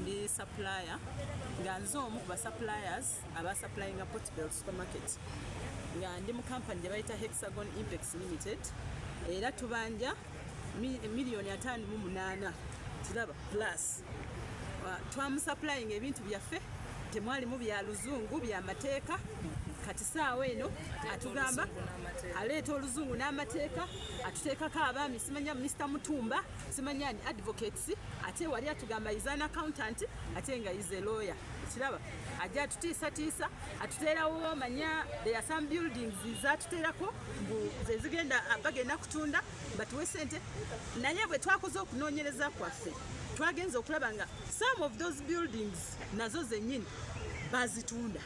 ndi supplier nga nze omu ku basuppliers abasupplyinga portbel supermarket nga ndi mu kampani gye bayita hexagon impex limited era tubanja miliyoni ataano mu munaana kiraba plus twamusupplyinga ebintu byaffe temwalimu bya luzungu bya mateeka kati saawa eno atugamba aleeta oluzungu n'amateeka atuteekako abaami simanya minisita mutumba simanyi ani advocates ate wali atugamba is an accountant ate nga is a lawyer kiraba ajja atutiisatiisa atuteerawo manya there are some buildings zatuteerako mbu zezigenda bagenda kutunda batuwe sente naye bwe twakoze okunoonyereza kwaffe twagenza okulaba nga some of those buildings nazo zenyini bazitunda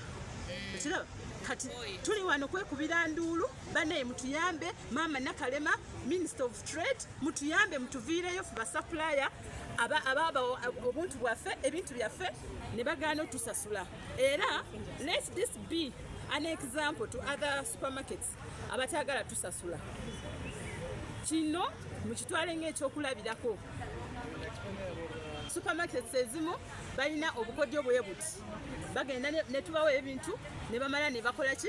ekiraba kati tuli wano kwekubira nduulu banaye mutuyambe maama nakalema minister of trade mutuyambe mutuviireyo fe basapulaya ababa obuntu bwaffe ebintu byaffe ne bagaana otusasula era let this be an example to other supermarkets abatagala tusasula kino mukitwale ngaekyokulabirako supermarkets ezimu balina obukodyo bwebuti bagenda netubawo ebintu nebamala nebakolaki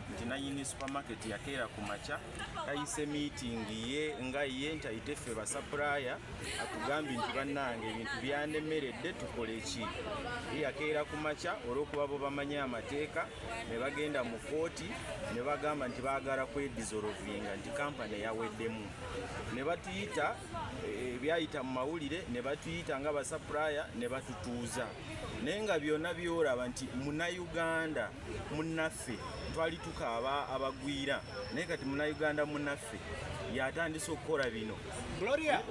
nti nanyini supermarket yakeera ku makya tayise meeting ye nga ye nti ayite ffe basapulaya atugambye nti bannange ebintu byanemeredde tukole ki ye yakeera ku makya olw'okuba bo bamanyi amateeka ne bagenda mu kooti ne bagamba nti baagala kwedizolovinga nti kampani yaweddemu ne batuyita eh, ebyayita mu mawulire ne batuyita nga basapulaya ne batutuuza naye nga byonna byolaba nti munauganda munnaffe twali tukaaba abagwira naye kati munauganda munnaffe yatandise okukola bino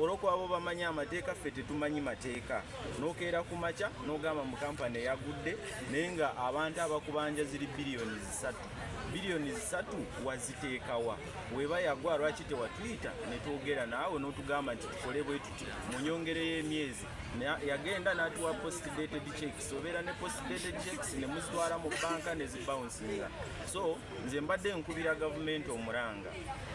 olwokuba bo bamanyi amateeka ffe tetumanyi mateeka nokeera ku makya nogamba mu kampani eyagudde naye nga abantu abakubanja ziri biliyoni zisatu biliyoni zisatu waziteekawa weba yagwa lwaki tewatuyita netwogera naawe notugamba nti tukole bwetuti munyongereyo emyezi yagenda natuwa post dated check obeera ne postpaid checks ne muzitwala mu banka ne zibouncinga so nze mbadde nkubira gavumenti omuranga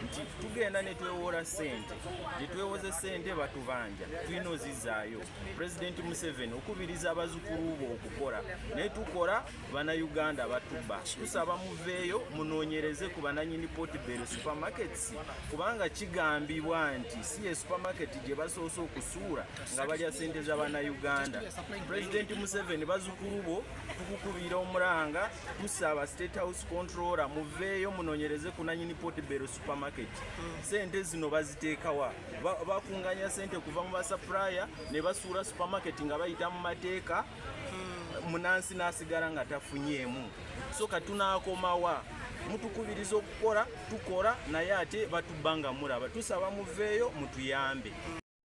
nti tugenda ne twewoola ssente gye twewoze ssente batubanja tulina ozizaayo pulezidenti museveni okubiriza abazukulu bo okukola naye tukola bannayuganda batuba tusaba muveeyo munoonyereze ku bananyini potbel supermarkets kubanga kigambibwa nti si ye supermarket gye basoose okusuula nga balya sente za bannayuganda pulezidenti museveni bazukulu bo tukukubiira omulanga tusaaba state house controller muveeyo munonyereze ku nanyini potbero supermarket sente zino baziteekawa bakunganya sente kuva mu basapraya ne basuula supermarket nga bayita mu mateeka hmm. munansi n'asigala nga tafunyeemu so katunakomawa mutukubiriza okukola tukola naye ate batubba nga mulaba tusaba muveeyo mutuyambe